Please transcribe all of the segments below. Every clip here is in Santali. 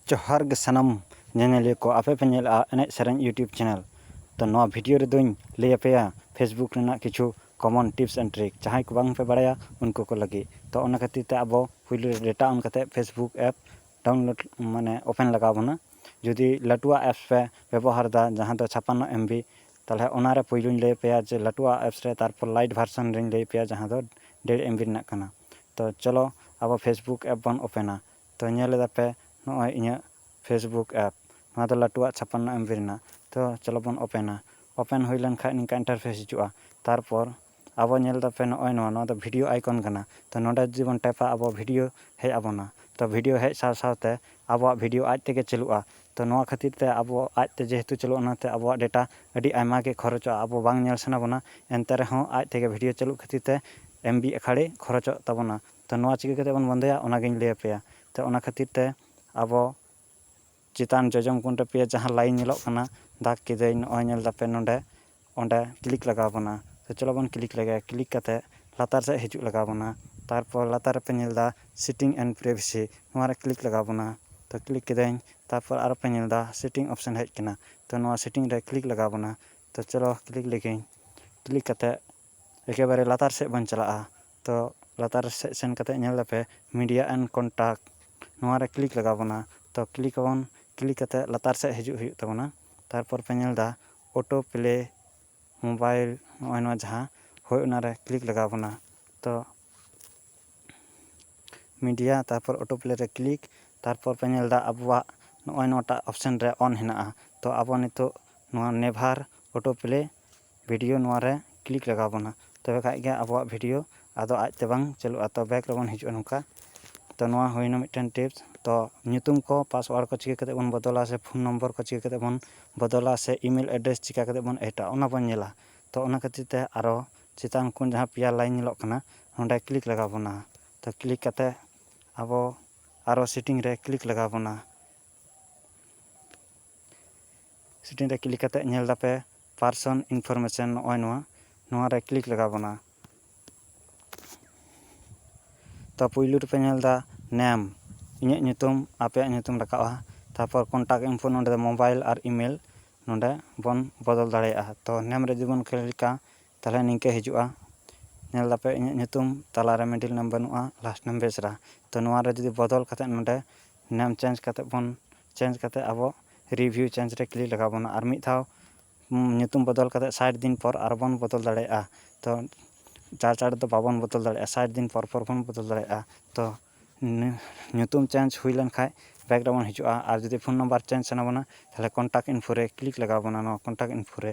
ᱡᱚᱦᱟᱨ ᱜᱮ ᱥᱟᱱᱟᱢ ᱧᱮᱧᱮᱞᱤᱭᱟᱹ ᱠᱚ ᱟᱯᱮ ᱯᱮ ᱧᱮᱞᱮᱫᱼᱟ ᱮᱱᱮᱡ ᱥᱮᱨᱮᱧ ᱤᱭᱩᱴᱩᱵᱽ ᱪᱮᱱᱮᱞ ᱛᱚ ᱱᱚᱣᱟ ᱵᱷᱤᱰᱤᱭᱳ ᱨᱮᱫᱚᱧ ᱞᱟᱹᱭ ᱟᱯᱮᱭᱟ ᱯᱷᱮᱥᱵᱩᱠ ᱨᱮᱱᱟᱜ ᱠᱤᱪᱷᱩ ᱠᱚᱢᱚᱱ ᱴᱤᱯᱥ ᱮᱱᱰ ᱴᱨᱤᱠ ᱡᱟᱦᱟᱸᱭ ᱠᱚ ᱵᱟᱝ ᱯᱮ ᱵᱟᱲᱟᱭᱟ ᱩᱱᱠᱩ ᱠᱚ ᱞᱟᱹᱜᱤᱫ ᱛᱚ ᱚᱱᱟ ᱠᱷᱟᱹᱛᱤᱨ ᱛᱮ ᱟᱵᱚ ᱯᱳᱭᱞᱳ ᱨᱮ ᱰᱮᱴᱟ ᱚᱱ ᱠᱟᱛᱮᱫ ᱯᱷᱮᱥᱵᱩᱠ ᱮᱯ ᱰᱟᱣᱩᱱᱞᱳᱰ ᱢᱟᱱᱮ ᱳᱯᱮᱱ ᱞᱟᱜᱟᱣ ᱵᱚᱱᱟ ᱡᱩᱫᱤ ᱞᱟᱹᱴᱩᱣᱟᱜ ᱮᱯᱥ ᱯᱮ ᱵᱮᱵᱚᱦᱟᱨᱫᱟ ᱡᱟᱦᱟᱸ ᱫᱚ ᱪᱷᱟᱯᱟᱱᱱᱚ ᱮᱢ ᱵᱤ ᱛᱟᱦᱚᱞᱮ ᱚᱱᱟ ᱨᱮ ᱯᱳᱭᱞᱳᱧ ᱞᱟᱹᱭ ᱟᱯᱮᱭᱟ ᱡᱮ ᱞᱟᱹᱴᱩᱣᱟᱜ ᱮᱯᱥ ᱨᱮ ᱛᱟᱨᱯᱚᱨ ᱞᱟᱭᱤᱴ ᱵᱷᱟᱨᱥᱮᱱ ᱨᱮᱧ ᱞᱟᱹᱭ ᱟᱯᱮᱭᱟ ᱡᱟᱦᱟᱸ ᱫᱚ ᱰᱮᱲ ᱮᱢ ᱵᱤ ᱨᱮᱱᱟᱜ ᱠᱟᱱᱟ ᱛᱚ ᱪᱚᱞᱚ ᱟᱵᱚ ᱯᱷᱮᱥᱵᱩᱠ ᱮᱯ ᱵᱚᱱ ᱳᱯᱮᱱᱟ ᱛᱚ ᱧᱮᱞ ᱮᱫᱟ ᱯᱮ ᱱᱚᱜᱼᱚᱭ ᱤᱧᱟᱹᱜ ᱯᱷᱮᱥᱵᱩᱠ ᱮᱯ ᱱᱚᱣᱟ ᱫᱚ ᱞᱟᱹᱴᱩᱣᱟᱜ ᱪᱷᱟᱯᱟᱱᱱᱚ ᱮᱢ ᱵᱤ ᱨᱮᱱᱟᱜ ᱛᱚ ᱪᱚᱞᱚ ᱵᱚᱱ ᱳᱯᱮᱱᱟ ᱳᱯᱮᱱ ᱦᱩᱭ ᱞᱮᱱᱠᱷᱟᱱ ᱱᱤᱝᱠᱟᱹ ᱤᱱᱴᱟᱨᱯᱷᱮᱥ ᱦᱤᱡᱩᱜᱼᱟ ᱛᱟᱨᱯᱚᱨ ᱟᱵᱚ ᱧᱮᱞ ᱮᱫᱟ ᱯᱮ ᱱᱚᱜᱼᱚᱭ ᱱᱚᱣᱟ ᱱᱚᱣᱟ ᱫᱚ ᱵᱷᱤᱰᱤᱭᱳ ᱟᱭᱠᱚᱱ ᱠᱟᱱᱟ ᱛᱚ ᱱᱚᱰᱮ ᱡᱩᱫᱤ ᱵᱚᱱ ᱴᱮᱯᱟ ᱟᱵᱚ ᱵᱷᱤᱰᱤᱭᱳ ᱦᱮᱡ ᱟᱵᱚᱱᱟ ᱛᱚ ᱵᱷᱤᱰᱤᱭᱳ ᱦᱮᱡ ᱥᱟᱶ ᱥᱟᱶᱛᱮ ᱟᱵᱚᱣᱟᱜ ᱵᱷᱤᱰᱤᱭᱳ ᱟᱡ ᱛᱮᱜᱮ ᱪᱟᱹᱞᱩᱜᱼᱟ ᱛᱚ ᱱᱚᱣᱟ ᱠᱷᱟᱹᱛᱤᱨ ᱛᱮ ᱟᱵᱚ ᱟᱡ ᱛᱮ ᱡᱮᱦᱮᱛᱩ ᱪᱟᱹᱞᱩᱜᱼᱟ ᱚᱱᱟ ᱛᱮ ᱟᱵᱚᱣᱟᱜ ᱰᱮᱴᱟ ᱟᱹᱰᱤ ᱟᱭᱢᱟ ᱜᱮ ᱠᱷᱚᱨᱚᱪᱚᱜᱼᱟ ᱟᱵᱚ ᱵᱟᱝ ᱧᱮᱞ ᱥᱟᱱᱟ ᱵᱚᱱᱟ ᱮᱱᱛᱮ ᱨᱮᱦᱚᱸ ᱟᱡ ᱛᱮᱜᱮ ᱵᱷᱤᱰᱤᱭᱳ ᱪᱟᱹᱞᱩᱜ ᱠᱷᱟᱹᱛᱤᱨ ᱛᱮ ᱮᱢ ᱵᱤ ᱟᱠᱷᱟᱲᱮ ᱠᱷᱚᱨᱚᱪᱚᱜ ᱛᱟᱵᱚᱱᱟ ᱛᱚ ᱱᱚᱣᱟ ᱪᱤᱠᱟᱹ ᱠᱟᱛᱮᱫ ᱵᱚᱱ ᱵᱚᱱᱫᱚᱭᱟ ᱚᱱᱟ ᱜᱤᱧ ᱞᱟᱹᱭ ᱟᱯᱮᱭᱟ ᱛᱚ ᱚᱱᱟ ᱠᱷᱟᱹᱛᱤᱨ ᱛᱮ ᱟᱵᱚ ᱪᱮᱛᱟᱱ ᱡᱚᱡᱚᱢ ᱠᱩᱱᱨᱮ ᱯᱮᱭᱟ ᱡᱟᱦᱟᱸ ᱞᱟᱭᱤᱱ ᱧᱮᱞᱚᱜ ᱠᱟᱱᱟ ᱫᱟᱜᱽ ᱠᱮᱫᱟᱹᱧ ᱱᱚᱜᱼᱚᱭ ᱧᱮᱞ ᱫᱟᱯᱮ ᱱᱚᱸᱰᱮ ᱚᱸᱰᱮ ᱠᱞᱤᱠ ᱞᱟᱜᱟᱣ ᱵᱚᱱᱟ ᱛᱚ ᱪᱚᱞᱚ ᱵᱚᱱ ᱠᱞᱤᱠ ᱞᱮᱜᱮ ᱠᱞᱤᱠ ᱠᱟᱛᱮ ᱞᱟᱛᱟᱨ ᱥᱮᱡ ᱦᱤᱡᱩᱜ ᱞᱟᱜᱟᱣ ᱵᱚᱱᱟ ᱛᱟᱨᱯᱚᱨ ᱞᱟᱛᱟᱨ ᱨᱮᱯᱮ ᱧᱮᱞ ᱫᱟ ᱥᱤᱴᱤᱝ ᱮᱱᱰ ᱯᱨᱮᱵᱷᱤᱥᱤ ᱱᱚᱣᱟ ᱨᱮ ᱠᱞᱤᱠ ᱞᱟᱜᱟᱣ ᱵᱚᱱᱟ ᱛᱚ ᱠᱞᱤᱠ ᱠᱤᱫᱟᱹᱧ ᱛᱟᱨᱯᱚᱨ ᱟᱨᱚ ᱯᱮ ᱧᱮᱞ ᱫᱟ ᱥᱤᱴᱤᱝ ᱚᱯᱷᱥᱮᱱ ᱦᱮᱡ ᱠᱟᱱᱟ ᱛᱚ ᱱᱚᱣᱟ ᱥᱤᱴᱤᱝ ᱨᱮ ᱠᱞᱤᱠ ᱞᱟᱜᱟᱣ ᱵᱚᱱᱟ ᱛᱚ ᱪᱚᱞᱚ ᱠᱞᱤᱠ ᱞᱮᱜᱤᱧ ᱠᱞᱤᱠ ᱠᱟᱛᱮ ᱮᱠᱮᱵᱟᱨᱮ ᱞᱟᱛᱟᱨ ᱥᱮᱡ ᱵᱚᱱ ᱪᱟᱞᱟᱜᱼᱟ ᱛᱚ ᱞᱟᱛᱟᱨ ᱥᱮᱡ ᱥᱮᱱ ᱠᱟᱛᱮ ᱧᱮᱞ ᱫᱟᱯᱮ ᱢᱤᱰᱤᱭᱟ ᱮᱱᱰ ᱠᱚᱱᱴᱟᱠᱴ ᱱᱚᱣᱟ ᱨᱮ ᱠᱞᱤᱠ ᱞᱟᱜᱟᱣ ᱵᱚᱱᱟ ᱛᱚ ᱠᱞᱤᱠ ᱟᱵᱚᱱ ᱠᱞᱤᱠ ᱠᱟᱛᱮ ᱞᱟᱛᱟᱨ ᱥᱮᱡ ᱦᱤᱡᱩᱜ ᱦᱩᱭᱩᱜ ᱛᱟᱵᱚᱱᱟ ᱛᱟᱨᱯᱚᱨ ᱯᱮ ᱧᱮᱞ ᱫᱟ ᱚᱴᱳ ᱯᱞᱮ ᱢᱳᱵᱟᱭᱤᱞ ᱱᱚᱜᱼᱚᱭ ᱱᱚᱣᱟ ᱡᱟᱦᱟᱸ ᱦᱳᱭ ᱚᱱᱟᱨᱮ ᱠᱞᱤᱠ ᱞᱟᱜᱟᱣ ᱵᱚᱱᱟ ᱛᱚ ᱢᱤᱰᱤᱭᱟ ᱛᱟᱨᱯᱚᱨ ᱚᱴᱳ ᱯᱞᱮ ᱨᱮ ᱠᱞᱤᱠ ᱛᱟᱨᱯᱚᱨ ᱯᱮ ᱧᱮᱞᱫᱟ ᱟᱵᱚᱣᱟᱜ ᱱᱚᱜᱼᱚᱭ ᱱᱚᱣᱟᱴᱟᱜ ᱚᱯᱷᱥᱮᱱ ᱨᱮ ᱚᱱ ᱦᱮᱱᱟᱜᱼᱟ ᱛᱚ ᱟᱵᱚ ᱱᱤᱛᱚᱜ ᱱᱚᱣᱟ ᱱᱮᱵᱷᱟᱨ ᱚᱴᱳ ᱯᱞᱮ ᱵᱷᱤᱰᱤᱭᱳ ᱱᱚᱣᱟᱨᱮ ᱠᱞᱤᱠ ᱞᱟᱜᱟᱣ ᱵᱚᱱᱟ ᱛᱚᱵᱮ ᱠᱷᱟᱱ ᱜᱮ ᱟᱵᱚᱣᱟᱜ ᱵᱷᱤᱰᱤᱭᱳ ᱟᱫᱚ ᱟᱡ ᱛᱮ ᱵᱟᱝ ᱪᱟᱹᱞᱩᱜᱼᱟ ᱛᱚ ᱵᱮᱠ ᱨᱮᱵᱚᱱ ᱦᱤᱡᱩᱜᱼᱟ ᱱᱚᱝᱠᱟ ᱛᱚ ᱱᱚᱣᱟ ᱦᱩᱭᱮᱱᱟ ᱢᱤᱫᱴᱮᱱ ᱴᱤᱯᱥ ᱛᱚ ᱧᱩᱛᱩᱢ ᱠᱚ ᱯᱟᱥᱚᱣᱟᱲ ᱠᱚ ᱪᱤᱠᱟᱹ ᱠᱟᱛᱮᱫ ᱵᱚᱱ ᱵᱚᱫᱚᱞᱟ ᱥᱮ ᱯᱷᱳᱱ ᱱᱚᱢᱵᱚᱨ ᱠᱚ ᱪᱤᱠᱟᱹ ᱠᱟᱛᱮᱫ ᱵᱚᱱ ᱵᱚᱫᱚᱞᱟ ᱥᱮ ᱤᱼᱢᱮᱞ ᱮᱰᱰᱨᱮᱥ ᱪᱤᱠᱟᱹ ᱠᱟᱛᱮᱫ ᱵᱚᱱ ᱮᱰᱟ ᱚᱱᱟ ᱵᱚᱱ ᱧᱮᱞᱟ ᱛᱚ ᱚᱱᱟ ᱠᱷᱟᱹᱛᱤᱨ ᱛᱮ ᱟᱨᱚ ᱪᱮᱛᱟᱱ ᱠᱷᱚᱱ ᱡᱟᱦᱟᱸ ᱯᱮᱭᱟ ᱞᱟᱭᱤᱱ ᱧᱮᱞᱚᱜ ᱠᱟᱱᱟ ᱚᱸᱰᱮ ᱠᱞᱤᱠ ᱞᱟᱜᱟᱣ ᱵᱚᱱᱟ ᱛᱚ ᱠᱞᱤᱠ ᱠᱟᱛᱮᱫ ᱟᱵᱚ ᱟᱨᱚ ᱥᱮᱴᱤᱝ ᱨᱮ ᱠᱞᱤᱠ ᱞᱟᱜᱟᱣ ᱵᱚᱱᱟ ᱥᱮᱴᱤᱝ ᱨᱮ ᱠᱞᱤᱠ ᱠᱟᱛᱮᱫ ᱧᱮᱞ ᱮᱫᱟᱯᱮ ᱯᱟᱨᱥᱚᱱ ᱤᱱᱯᱷᱚᱨᱢᱮᱥᱚᱱ ᱱᱚᱜᱼᱚᱭ ᱱᱚᱣᱟ ᱱᱚᱣᱟ ᱨᱮ ᱠᱞᱤᱠ ᱞᱟᱜᱟᱣ ᱵᱚᱱᱟ ᱛᱚ ᱯᱩᱭᱞᱩ ᱨᱮᱯᱮ ᱧᱮᱞ ᱮᱫᱟ ᱱᱮᱢ ᱤᱧᱟᱹᱜ ᱧᱩᱛᱩᱢ ᱟᱯᱮᱭᱟᱜ ᱧᱩᱛᱩᱢ ᱨᱟᱠᱟᱵᱼᱟ ᱛᱟᱨᱯᱚᱨ ᱠᱚᱱᱴᱟᱠ ᱤᱱᱯᱷᱚ ᱱᱚᱰᱮ ᱫᱚ ᱢᱳᱵᱟᱭᱤᱞ ᱟᱨ ᱤᱢᱮᱞ ᱱᱚᱰᱮ ᱵᱚᱱ ᱵᱚᱫᱚᱞ ᱫᱟᱲᱮᱭᱟᱜᱼᱟ ᱛᱚ ᱱᱮᱢ ᱨᱮ ᱡᱩᱫᱤ ᱵᱚᱱ ᱠᱞᱤᱠᱟ ᱛᱟᱦᱞᱮ ᱱᱤᱝᱠᱟᱹ ᱦᱤᱡᱩᱜᱼᱟ ᱧᱮᱞ ᱫᱟᱯᱮ ᱤᱧᱟᱹᱜ ᱧᱩᱛᱩᱢ ᱛᱟᱞᱟ ᱨᱮ ᱢᱤᱰᱤᱞ ᱱᱮᱢ ᱵᱟᱹᱱᱩᱜᱼᱟ ᱞᱟᱥᱴ ᱱᱮᱢ ᱵᱮᱥᱨᱟ ᱛᱚ ᱱᱚᱣᱟ ᱨᱮ ᱡᱩᱫᱤ ᱵᱚᱫᱚᱞ ᱠᱟᱛᱮ ᱱᱚᱰᱮ ᱱᱮᱢ ᱪᱮᱧᱡᱽ ᱠᱟᱛᱮ ᱵᱚᱱ ᱪᱮᱧᱡᱽ ᱠᱟᱛᱮ ᱟᱵᱚ ᱨᱤᱵᱷᱤᱭᱩ ᱪᱮᱧᱡᱽ ᱨᱮ ᱠᱞᱤᱠ ᱞᱟᱜᱟᱣ ᱵᱚᱱᱟ ᱟᱨ ᱢᱤᱫ ᱫᱷᱟᱣ ᱧᱩᱛᱩᱢ ᱵᱚᱫᱚᱞ ᱠᱟᱛᱮ ᱥᱟᱴ ᱫᱤᱱ ᱯᱚᱨ ᱟᱨᱚ ᱵᱚᱱ ᱵᱚᱫᱚᱞ ᱫᱟᱲᱮᱭᱟᱜᱼᱟ ᱛᱚ ᱪᱟᱬ ᱪᱟᱬ ᱫᱚ ᱵᱟᱵᱚᱱ ᱵᱚᱫᱚᱞ ᱫᱟᱲᱮᱭᱟᱜᱼᱟ ᱥᱟᱴ ᱫᱤᱱ ᱯᱚᱨ ᱯᱚᱨ ᱵᱚᱱ ᱵᱚᱫᱚᱞ ᱫᱟᱲᱮᱭᱟᱜᱼᱟ ᱛᱚ ᱧᱩᱛᱩᱢ ᱪᱮᱧᱡᱽ ᱦᱩᱭ ᱞᱮᱱ ᱠᱷᱟᱡ ᱵᱮᱠ ᱨᱮᱵᱚᱱ ᱦᱤᱡᱩᱜᱼᱟ ᱟᱨ ᱡᱩᱫᱤ ᱯᱷᱳᱱ ᱱᱟᱢᱵᱟᱨ ᱪᱮᱧᱡᱽ ᱥᱟᱱᱟ ᱵᱚᱱᱟ ᱛᱟᱦᱞᱮ ᱠᱚᱱᱴᱟᱠ ᱤᱱᱯᱷᱳ ᱨᱮ ᱠᱞᱤᱠ ᱞᱟᱜᱟᱣ ᱵᱚᱱᱟ ᱱᱚᱣᱟ ᱠᱚᱱᱴᱟᱠ ᱤᱱᱯᱷᱳ ᱨᱮ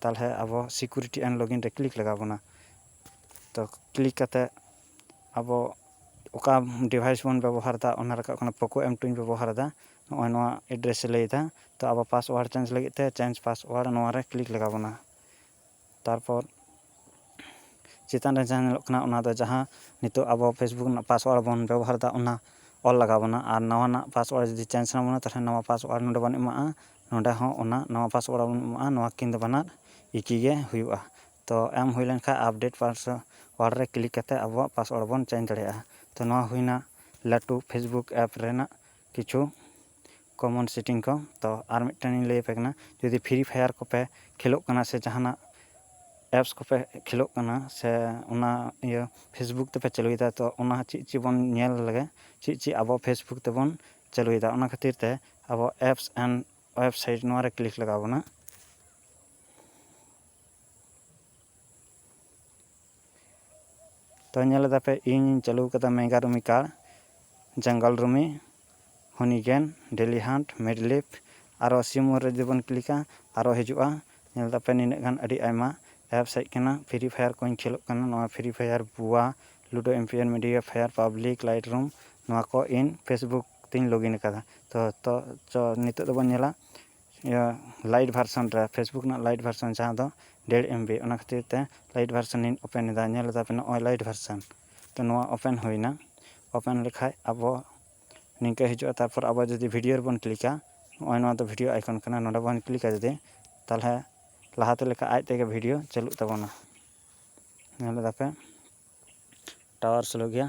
ᱛᱟᱦᱚᱞᱮ ᱟᱵᱚ ᱥᱤᱠᱩᱨᱤᱴᱤ ᱮᱱᱰ ᱞᱚᱜᱤᱱ ᱨᱮ ᱠᱞᱤᱠ ᱞᱟᱜᱟᱣ ᱵᱚᱱᱟ ᱛᱚ ᱠᱞᱤᱠ ᱠᱟᱛᱮ ᱟᱵᱚ ᱚᱠᱟ ᱰᱤᱵᱷᱟᱭᱤᱥ ᱵᱚᱱ ᱵᱮᱵᱚᱦᱟᱨᱮᱫᱟ ᱚᱱᱟ ᱨᱟᱠᱟᱵ ᱠᱟᱱᱟ ᱯᱳᱠᱳ ᱮᱢ ᱴᱩᱧ ᱵᱮᱵᱚᱦᱟᱨᱮᱫᱟ ᱱᱚᱜᱼᱚᱭ ᱱᱚᱣᱟ ᱮᱰᱨᱮᱥ ᱮ ᱞᱟᱹᱭᱮᱫᱟ ᱛᱚ ᱟᱵᱚ ᱯᱟᱥᱚᱣᱟᱨᱰ ᱪᱮᱧᱡᱽ ᱞᱟᱹᱜᱤᱫ ᱛᱮ ᱪᱮᱧᱡᱽ ᱯᱟᱥᱚᱣᱟᱨᱰ ᱱᱚᱣᱟ ᱨᱮ ᱠᱞᱤᱠ ᱞᱟᱜᱟᱣ ᱵᱚᱱᱟ ᱛᱟᱨᱯᱚᱨ ᱪᱮᱛᱟᱱ ᱨᱮ ᱡᱟᱦᱟᱸ ᱧᱮᱞᱚᱜ ᱠᱟᱱᱟ ᱚᱱᱟ ᱫᱚ ᱡᱟᱦᱟᱸ ᱱᱤᱛᱚᱜ ᱟᱵᱚ ᱯᱷᱮᱥᱵᱩᱠ ᱨᱮᱱᱟᱜ ᱯᱟᱥᱚᱣᱟᱨᱰ ᱵᱚᱱ ᱵᱮᱵᱚᱦᱟᱨᱮᱫᱟ ᱚᱱᱟ ᱚᱞ ᱞᱟᱜᱟᱣ ᱵᱚᱱᱟ ᱟᱨ ᱱᱟᱣᱟᱱᱟᱜ ᱯᱟᱥᱚᱣᱟᱨᱰ ᱡᱩᱫᱤ ᱪᱮᱧᱡᱽ ᱥᱟᱱᱟ ᱵᱚᱱᱟ ᱛᱟᱦᱚᱞᱮ ᱱᱟᱣᱟ ᱯᱟᱥᱚᱣᱟᱨᱰ ᱱᱚᱰᱮ ᱵᱚᱱ ᱮᱢᱟᱜᱼᱟ ᱱᱚᱸᱰᱮ ᱦᱚᱸ ᱚᱱᱟ ᱱᱟᱣᱟ ᱯᱟᱥᱳᱣᱟᱨᱰ ᱵᱚᱱ ᱮᱢᱟᱜᱼᱟ ᱱᱚᱣᱟ ᱠᱤᱱ ᱫᱚ ᱵᱟᱱᱟᱨ ᱮᱠᱤ ᱜᱮ ᱦᱩᱭᱩᱜᱼᱟ ᱛᱚ ᱮᱢ ᱦᱩᱭ ᱞᱮᱱ ᱠᱷᱟᱱ ᱟᱯᱰᱮᱴ ᱯᱟᱥᱳᱣᱟᱨᱰ ᱨᱮ ᱠᱞᱤᱠ ᱠᱟᱛᱮᱫ ᱟᱵᱚᱣᱟᱜ ᱯᱟᱥᱳᱣᱟᱨᱰ ᱵᱚᱱ ᱪᱮᱧᱡᱽ ᱫᱟᱲᱮᱭᱟᱜᱼᱟ ᱛᱚ ᱱᱚᱣᱟ ᱦᱩᱭᱱᱟ ᱞᱟᱹᱴᱩ ᱯᱷᱮᱥᱵᱩᱠ ᱮᱯ ᱨᱮᱱᱟᱜ ᱠᱤᱪᱷᱩ ᱠᱚᱢᱚᱱ ᱥᱮᱴᱤᱝ ᱠᱚ ᱛᱚ ᱟᱨ ᱢᱤᱫᱴᱮᱱ ᱤᱧ ᱞᱟᱹᱭ ᱟᱯᱮ ᱠᱟᱱᱟ ᱡᱩᱫᱤ ᱯᱷᱨᱤ ᱯᱷᱟᱭᱟᱨ ᱠᱚᱯᱮ ᱠᱷᱮᱞᱳᱜ ᱠᱟᱱᱟ ᱥᱮ ᱡᱟᱦᱟᱱᱟᱜ ᱮᱯᱥ ᱠᱚᱯᱮ ᱠᱷᱮᱞᱳᱜ ᱠᱟᱱᱟ ᱥᱮ ᱚᱱᱟ ᱤᱭᱟᱹ ᱯᱷᱮᱥᱵᱩᱠ ᱛᱮᱯᱮ ᱪᱟᱹᱞᱩᱭᱮᱫᱟ ᱛᱚ ᱚᱱᱟ ᱪᱮᱫ ᱪᱮᱫ ᱵᱚᱱ ᱧᱮᱞ ᱞᱮᱜᱮ ᱪᱮᱫ ᱪᱮᱫ ᱟᱵᱚ ᱯᱷᱮᱥᱵᱩᱠ ᱛᱮᱵᱚᱱ ᱪᱟᱹᱞᱩᱭᱮᱫᱟ ᱚᱱᱟ ᱠᱷᱟᱹᱛᱤᱨ ᱛᱮ ᱟᱵᱚ ᱮᱯᱥ ᱮᱱᱰ ᱳᱭᱮᱵᱽᱥᱟᱭᱤᱴ ᱱᱚᱣᱟ ᱨᱮ ᱠᱞᱤᱠ ᱞᱟᱜᱟᱣ ᱵᱚᱱᱟ ᱛᱚ ᱧᱮᱞ ᱮᱫᱟᱯᱮ ᱤᱧᱤᱧ ᱪᱟᱹᱞᱩ ᱠᱟᱫᱟ ᱢᱮᱜᱟ ᱨᱩᱢᱤ ᱠᱟᱨᱰ ᱡᱟᱝᱜᱟᱞ ᱨᱩᱢᱤ ᱦᱚᱱᱤᱜᱮᱱ ᱰᱮᱞᱤ ᱦᱟᱱᱴ ᱢᱮᱰᱞᱤᱯ ᱟᱨᱚ ᱥᱤᱢᱳᱨ ᱨᱮ ᱡᱩᱫᱤ ᱵᱚᱱ ᱠᱞᱤᱠᱟ ᱟᱨᱚ ᱦᱤᱡᱩᱜᱼᱟ ᱧᱮᱞ ᱮᱫᱟᱯᱮ ᱱᱤᱱᱟᱹᱜ ᱜᱟᱱ ᱟᱹᱰᱤ ᱟᱭᱢᱟ ᱮᱯᱥ ᱦᱮᱡ ᱠᱟᱱᱟ ᱯᱷᱨᱤ ᱯᱷᱟᱭᱟᱨ ᱠᱚᱧ ᱠᱷᱮᱞᱳᱜ ᱠᱟᱱᱟ ᱱᱚᱣᱟ ᱯᱷᱨᱤ ᱯᱷᱟᱭᱟᱨ ᱵᱩᱣᱟ Ludo ᱮᱢᱯᱤᱭᱟᱨ media fire public light ᱨᱩᱢ ᱱᱚᱣᱟ ᱠᱚ ᱤᱧ ᱯᱷᱮᱥᱵᱩᱠ ᱛᱤᱧ ᱞᱚᱜᱤᱱ ᱟᱠᱟᱫᱟ ᱛᱚ ᱛᱚ ᱪᱚ ᱱᱤᱛᱳᱜ ᱫᱚᱵᱚᱱ ᱧᱮᱞᱟ ᱤᱭᱟᱹ ᱞᱟᱭᱤᱴ ᱵᱷᱟᱨᱥᱚᱱ ᱨᱮ ᱯᱷᱮᱥᱵᱩᱠ ᱨᱮᱱᱟᱜ ᱞᱟᱭᱤᱴ ᱵᱷᱟᱨᱥᱚᱱ ᱡᱟᱦᱟᱸ ᱫᱚ ᱰᱮᱲ ᱮᱢ ᱵᱤ ᱚᱱᱟ ᱠᱷᱟᱹᱛᱤᱨ ᱛᱮ ᱞᱟᱭᱤᱴ ᱵᱷᱟᱨᱥᱚᱱᱤᱧ ᱳᱯᱮᱱ ᱮᱫᱟ ᱧᱮᱞ ᱮᱫᱟ ᱯᱮ ᱱᱚᱜᱼᱚᱭ ᱞᱟᱭᱤᱴ ᱵᱷᱟᱨᱥᱚᱱ ᱛᱚ ᱱᱚᱣᱟ ᱳᱯᱮᱱ ᱦᱩᱭᱱᱟ ᱳᱯᱮᱱ ᱞᱮᱠᱷᱟᱱ ᱟᱵᱚ ᱱᱤᱝᱠᱟᱹ ᱦᱤᱡᱩᱜᱼᱟ ᱛᱟᱨᱯᱚᱨ ᱟᱵᱚ ᱡᱩᱫᱤ ᱵᱷᱤᱰᱤᱭᱳ ᱨᱮᱵᱚᱱ ᱠᱞᱤᱠᱟ ᱱᱚᱜᱼᱚᱭ ᱱᱚᱣᱟ ᱫᱚ ᱵᱷᱤᱰᱤᱭᱳ ᱟᱭᱠᱚᱱ ᱠᱟᱱᱟ ᱱᱚᱰᱮ ᱵᱚᱱ ᱠᱞᱤᱠᱟ ᱡᱩᱫᱤ ᱛᱟᱦᱚᱞᱮ ᱞᱟᱦᱟᱛᱮ ᱞᱮᱠᱟ ᱟᱡ ᱛᱮᱜᱮ ᱵᱷᱤᱰᱤᱭᱳ ᱪᱟᱹᱞᱩᱜ ᱛᱟᱵᱚᱱᱟ ᱧᱮᱞ ᱮᱫᱟ ᱯᱮ ᱴᱟᱣᱟᱨ ᱥᱞᱳ ᱜᱮᱭᱟ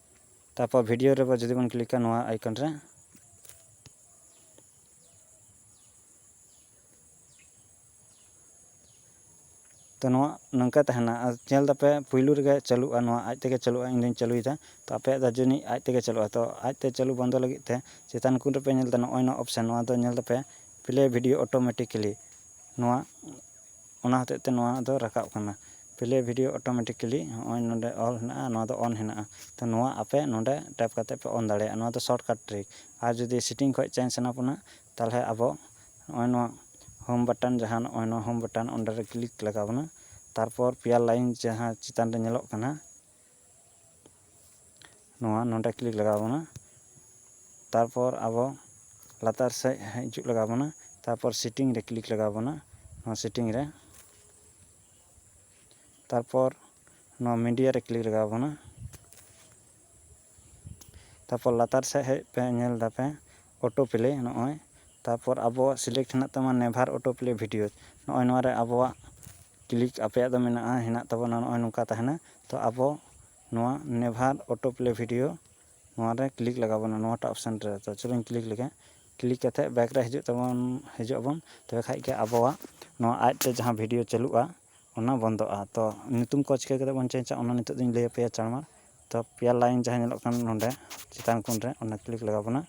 ᱛᱟᱨᱯᱚᱨ ᱵᱷᱤᱰᱤᱭᱳ ᱨᱮ ᱡᱩᱫᱤ ᱵᱚᱱ ᱠᱞᱤᱠᱟ ᱱᱚᱣᱟ ᱟᱭᱠᱚᱱ ᱨᱮ ᱛᱚ ᱱᱚᱣᱟ ᱱᱚᱝᱠᱟ ᱛᱟᱦᱮᱱᱟ ᱟᱨ ᱧᱮᱞ ᱫᱟᱯᱮ ᱯᱩᱭᱞᱩ ᱨᱮᱜᱮ ᱪᱟᱹᱞᱩᱜᱼᱟ ᱱᱚᱣᱟ ᱟᱡ ᱛᱮᱜᱮ ᱪᱟᱹᱞᱩᱜᱼᱟ ᱤᱧ ᱫᱚᱧ ᱪᱟᱹᱞᱩᱭᱮᱫᱟ ᱛᱚ ᱟᱯᱮᱭᱟᱜ ᱫᱚ ᱡᱟᱹᱱᱤᱡ ᱟᱡ ᱛᱮᱜᱮ ᱪᱟᱹᱞᱩᱜᱼᱟ ᱛᱚ ᱟᱡ ᱛᱮ ᱪᱟᱹᱞᱩ ᱵᱚᱱᱫᱚ ᱞᱟᱹᱜᱤᱫ ᱛᱮ ᱪᱮᱛᱟᱱ ᱠᱩᱱ ᱨᱮᱯᱮ ᱧᱮᱞ ᱫᱟ ᱱᱚᱜᱼᱚᱭ ᱱᱚᱣᱟ ᱚᱯᱥᱮᱱ ᱱᱚᱣᱟ ᱫᱚ ᱧᱮᱞ ᱫᱟᱯᱮ ᱯᱞᱮ ᱵᱷᱤᱰᱤᱭᱳ ᱚᱴᱳᱢᱮᱴᱤᱠᱮᱞᱤ ᱱᱚᱣᱟ ᱚᱱᱟ ᱦᱚᱛᱮᱡ ᱛᱮ ᱱᱚᱣᱟ ᱫᱚ ᱨᱟᱠᱟᱵ ᱠᱟᱱᱟ ᱯᱞᱮ ᱵᱷᱤᱰᱤᱭᱳ ᱚᱴᱳᱢᱮᱴᱤᱠᱮᱞᱤ ᱱᱚᱜᱼᱚᱭ ᱱᱚᱰᱮ ᱚᱞ ᱦᱮᱱᱟᱜᱼᱟ ᱟᱨ ᱱᱚᱣᱟ ᱫᱚ ᱚᱱ ᱦᱮᱱᱟᱜᱼᱟ ᱛᱚ ᱱᱚᱣᱟ ᱟᱯᱮ ᱱᱚᱰᱮ ᱴᱮᱯ ᱠᱟᱛᱮ ᱯᱮ ᱚᱱ ᱫᱟᱲᱮᱭᱟᱜᱼᱟ ᱱᱚᱣᱟ ᱫᱚ ᱥᱚᱨᱴ ᱠᱟᱴ ᱴᱨᱤᱠ ᱟᱨ ᱡᱩᱫᱤ ᱥᱮᱴᱤᱝ ᱠᱷᱚᱡ ᱪᱮᱧᱡᱽ ᱥᱟᱱᱟ ᱵᱚᱱᱟ ᱛᱟᱦᱚᱞᱮ ᱟᱵᱚ ᱱᱚᱜᱼᱚᱭ ᱱᱚᱣᱟ ᱦᱳᱢ ᱵᱟᱴᱚᱱ ᱡᱟᱦᱟᱸ ᱱᱚᱜᱼᱚᱭ ᱱᱚᱣᱟ ᱦᱳᱢ ᱵᱟᱴᱚᱱ ᱚᱸᱰᱮ ᱨᱮ ᱠᱞᱤᱠ ᱞᱟᱜᱟᱣ ᱵᱚᱱᱟ ᱛᱟᱨᱯᱚᱨ ᱯᱮᱭᱟ ᱞᱟᱭᱤᱱ ᱡᱟᱦᱟᱸ ᱪᱮᱛᱟᱱ ᱨᱮ ᱧᱮᱞᱚᱜ ᱠᱟᱱᱟ ᱱᱚᱣᱟ ᱱᱚᱸᱰᱮ ᱠᱞᱤᱠ ᱞᱟᱜᱟᱣ ᱵᱚᱱᱟ ᱛᱟᱨᱯᱚᱨ ᱟᱵᱚ ᱞᱟᱛᱟᱨ ᱥᱮᱡ ᱦᱤᱡᱩᱜ ᱞᱟᱜᱟᱣ ᱵᱚᱱᱟ ᱛᱟᱨᱯᱚᱨ ᱥᱤᱴᱤᱝ ᱨᱮ ᱠᱞᱤᱠ ᱞᱟᱜᱟᱣ ᱵᱚᱱᱟ ᱱᱚᱣᱟ ᱥᱤᱴᱤᱝ ᱨᱮ ᱛᱟᱨᱯᱚᱨ ᱱᱚᱣᱟ ᱢᱤᱰᱤᱭᱟ ᱨᱮ ᱠᱞᱤᱠ ᱞᱟᱜᱟᱣ ᱵᱚᱱᱟ ᱛᱟᱨᱯᱚᱨ ᱞᱟᱛᱟᱨ ᱥᱮᱫ ᱦᱮᱡ ᱯᱮ ᱧᱮᱞ ᱫᱟᱯᱮ ᱚᱴᱳ ᱯᱞᱮ ᱱᱚᱜᱼᱚᱭ ᱛᱟᱨᱯᱚᱨ ᱟᱵᱚᱣᱟᱜ ᱥᱤᱞᱮᱠᱴ ᱦᱮᱱᱟᱜ ᱛᱟᱢᱟ ᱱᱮᱵᱷᱟᱨ ᱚᱴᱳ ᱯᱞᱮ ᱵᱷᱤᱰᱤᱭᱳ ᱱᱚᱜᱼᱚᱭ ᱱᱚᱣᱟ ᱨᱮ ᱟᱵᱚᱣᱟᱜ ᱠᱞᱤᱠ ᱟᱯᱮᱭᱟᱜ ᱫᱚ ᱢᱮᱱᱟᱜᱼᱟ ᱦᱮᱱᱟᱜ ᱛᱟᱵᱚᱱᱟ ᱱᱚᱜᱼᱚᱭ ᱱᱚᱝᱠᱟ ᱛᱟᱦᱮᱱᱟ ᱛᱚ ᱟᱵᱚ ᱱᱚᱣᱟ ᱱᱮᱵᱷᱟᱨ ᱚᱴᱳ ᱯᱞᱮ ᱵᱷᱤᱰᱤᱭᱳ ᱱᱚᱣᱟ ᱨᱮ ᱠᱞᱤᱠ ᱞᱟᱜᱟᱣ ᱵᱚᱱᱟ ᱱᱚᱣᱟᱴᱟᱜ ᱚᱯᱷᱥᱮᱱ ᱨᱮ ᱛᱚ ᱪᱚᱞᱚᱧ ᱠᱞᱤᱠ ᱞᱮᱜᱮ ᱠᱞᱤᱠ ᱠᱟᱛᱮ ᱵᱮᱠ ᱨᱮ ᱦᱤᱡᱩᱜ ᱛᱟᱵᱚᱱ ᱦᱤᱡᱩᱜ ᱟᱵᱚᱱ ᱛᱚᱵᱮ ᱠᱷᱟᱡ ᱜᱮ ᱟᱵᱚᱣᱟᱜ ᱱᱚᱣᱟ ᱟᱡ ᱛᱮ ᱡᱟᱦᱟᱸ ᱵᱷᱤᱰᱤᱭᱳ ᱪᱟᱹᱞᱩᱜᱼᱟ ᱚᱱᱟ ᱵᱚᱱᱫᱚᱜᱼᱟ ᱛᱚ ᱧᱩᱛᱩᱢ ᱠᱚ ᱪᱤᱠᱟᱹ ᱠᱟᱛᱮ ᱵᱚᱱ ᱪᱮᱧᱡᱟ ᱚᱱᱟ ᱱᱤᱛᱚᱜ ᱫᱚᱧ ᱞᱟᱹᱭᱟᱯᱮᱭᱟ ᱪᱟᱬᱢᱟᱬ ᱛᱚ ᱯᱮᱭᱟ ᱞᱟᱭᱤᱱ ᱡᱟᱦᱟᱸ ᱧᱮᱞᱚᱜ ᱠᱟᱱ ᱱᱚᱸᱰᱮ ᱪᱮᱛᱟᱱ ᱠᱚᱱ ᱨᱮ ᱚᱱᱟ ᱠᱞᱤᱠ ᱞᱟᱜᱟᱣ ᱵᱚᱱᱟ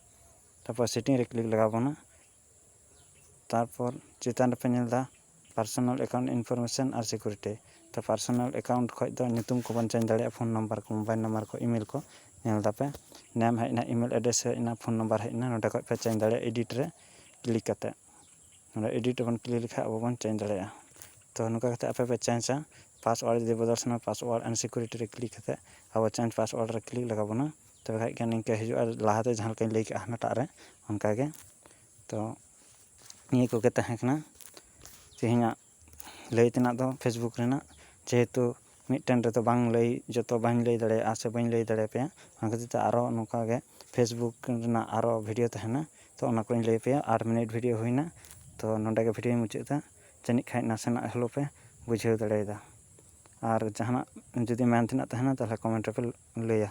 ᱛᱟᱯᱚᱨ ᱥᱮᱴᱤᱝ ᱨᱮ ᱠᱞᱤᱠ ᱞᱟᱜᱟᱣ ᱵᱚᱱᱟ ᱛᱟᱨᱯᱚᱨ ᱪᱮᱛᱟᱱ ᱨᱮᱯᱮ ᱧᱮᱞ ᱮᱫᱟ ᱯᱟᱨᱥᱚᱱᱟᱞ ᱮᱠᱟᱣᱩᱱᱴ ᱤᱱᱯᱷᱚᱨᱢᱮᱥᱚᱱ ᱟᱨ ᱥᱤᱠᱩᱨᱤᱴᱤ ᱛᱚ ᱯᱟᱨᱥᱚᱱᱟᱞ ᱮᱠᱟᱣᱩᱱᱴ ᱠᱷᱚᱡ ᱫᱚ ᱧᱩᱛᱩᱢ ᱠᱚᱵᱚᱱ ᱪᱮᱧᱡᱽ ᱫᱟᱲᱮᱭᱟᱜᱼᱟ ᱯᱷᱳᱱ ᱱᱟᱢᱵᱟᱨ ᱠᱚ ᱢᱳᱵᱟᱭᱤᱞ ᱱᱟᱢᱵᱟᱨ ᱠᱚ ᱤᱢᱮᱞ ᱠᱚ ᱧᱮᱞ ᱮᱫᱟᱯᱮ ᱱᱮᱢ ᱦᱮᱡ ᱮᱱᱟ ᱤᱢᱮᱞ ᱮᱰᱨᱮᱥ ᱦᱮᱡ ᱮᱱᱟ ᱯᱷᱳᱱ ᱱᱟᱢᱵᱟᱨ ᱦᱮᱡ ᱮᱱᱟ ᱱᱚᱸᱰᱮ ᱠᱷᱚᱡ ᱯᱮ ᱪᱮᱧᱡᱽ ᱫᱟᱲᱮᱭᱟᱜᱼᱟ ᱮᱰᱤᱴ ᱨᱮ ᱠᱞᱤᱠ ᱠᱟᱛᱮ ᱱᱚᱰᱮ ᱮᱰᱤᱴ ᱵᱚᱱ ᱠᱞᱤᱠ ᱞᱮᱠᱷᱟᱡ ᱟᱵᱚ ᱵᱚᱱ ᱪᱮᱧᱡᱽ ᱫᱟᱲᱮᱭᱟᱜᱼᱟ ᱛᱚ ᱱᱚᱝᱠᱟ ᱠᱟᱛᱮᱫ ᱟᱯᱮ ᱯᱮ ᱪᱮᱧᱡᱟ ᱯᱟᱥᱚᱣᱟᱨᱰ ᱡᱩᱫᱤ ᱵᱚᱫᱚᱞ ᱥᱟᱱᱟ ᱯᱟᱥᱚᱣᱟᱨᱰ ᱮᱱᱰ ᱥᱤᱠᱩᱨᱤᱴᱤ ᱨᱮ ᱠᱞᱤᱠ ᱠᱟᱛᱮᱫ ᱟᱵᱚ ᱪᱮᱧᱡᱽ ᱯᱟᱥᱚᱣᱟᱨᱰ ᱨᱮ ᱠᱞᱤᱠ ᱞᱟᱜᱟᱣ ᱵᱚᱱᱟ ᱛᱚᱵᱮ ᱠᱷᱟᱡ ᱜᱮ ᱱᱤᱝᱠᱟᱹ ᱦᱤᱡᱩᱜᱼᱟ ᱞᱟᱦᱟ ᱛᱮ ᱡᱟᱦᱟᱸ ᱞᱮᱠᱟᱧ ᱞᱟᱹᱭ ᱠᱮᱜᱼᱟ ᱦᱟᱱᱟᱴᱟᱜ ᱨᱮ ᱚᱱᱠᱟ ᱜᱮ ᱛᱚ ᱱᱤᱭᱟᱹ ᱠᱚᱜᱮ ᱛᱟᱦᱮᱸ ᱠᱟᱱᱟ ᱛᱮᱦᱮᱧᱟᱜ ᱞᱟᱹᱭ ᱛᱮᱱᱟᱜ ᱫᱚ ᱯᱷᱮᱥᱵᱩᱠ ᱨᱮᱱᱟᱜ ᱡᱮᱦᱮᱛᱩ ᱢᱤᱫᱴᱮᱱ ᱨᱮᱫᱚ ᱵᱟᱝ ᱞᱟᱹᱭ ᱡᱚᱛᱚ ᱵᱟᱹᱧ ᱞᱟᱹᱭ ᱫᱟᱲᱮᱭᱟᱜᱼᱟ ᱥᱮ ᱵᱟᱹᱧ ᱞᱟᱹᱭ ᱫᱟᱲᱮᱭᱟᱯᱮᱭᱟ ᱚᱱᱟ ᱠᱷᱟᱹᱛᱤᱨ ᱛᱮ ᱟᱨᱚ ᱱᱚᱝᱠᱟ ᱜᱮ ᱯᱷᱮᱥᱵᱩᱠ ᱨᱮᱱᱟᱜ ᱟᱨᱚ ᱵᱷᱤᱰᱭᱳ ᱛᱟᱦᱮᱱᱟ ᱛᱚ ᱚᱱᱟ ᱠᱚᱧ ᱞᱟᱹᱭ ᱟᱯᱮᱭᱟ ᱟᱴ ᱢᱤᱱᱤᱴ ᱵᱷᱤᱰᱭᱳ ᱦᱩᱭᱱᱟ ᱛᱚ ᱱᱚᱰᱮ ᱜᱮ ᱵᱷᱤᱰᱭᱳᱧ ᱢᱩᱪᱟᱹᱫ ᱮᱫᱟ ᱡᱟᱹᱱᱤᱡ ᱠᱷᱟᱱ ᱱᱟᱥᱮᱱᱟᱜ ᱦᱚᱞᱳ ᱯᱮ ᱵᱩᱡᱷᱟᱹᱣ ᱫᱟᱲᱮᱭᱟᱫᱟ ᱟᱨ ᱡᱟᱦᱟᱱᱟᱜ ᱡᱩᱫᱤ ᱢᱮᱱ ᱛᱮᱱᱟᱜ ᱛᱟᱦᱮᱱᱟ ᱛᱟᱦᱚᱞᱮ ᱠᱚᱢᱮᱱᱴ ᱨᱮᱯᱮ ᱞᱟᱹᱭᱟ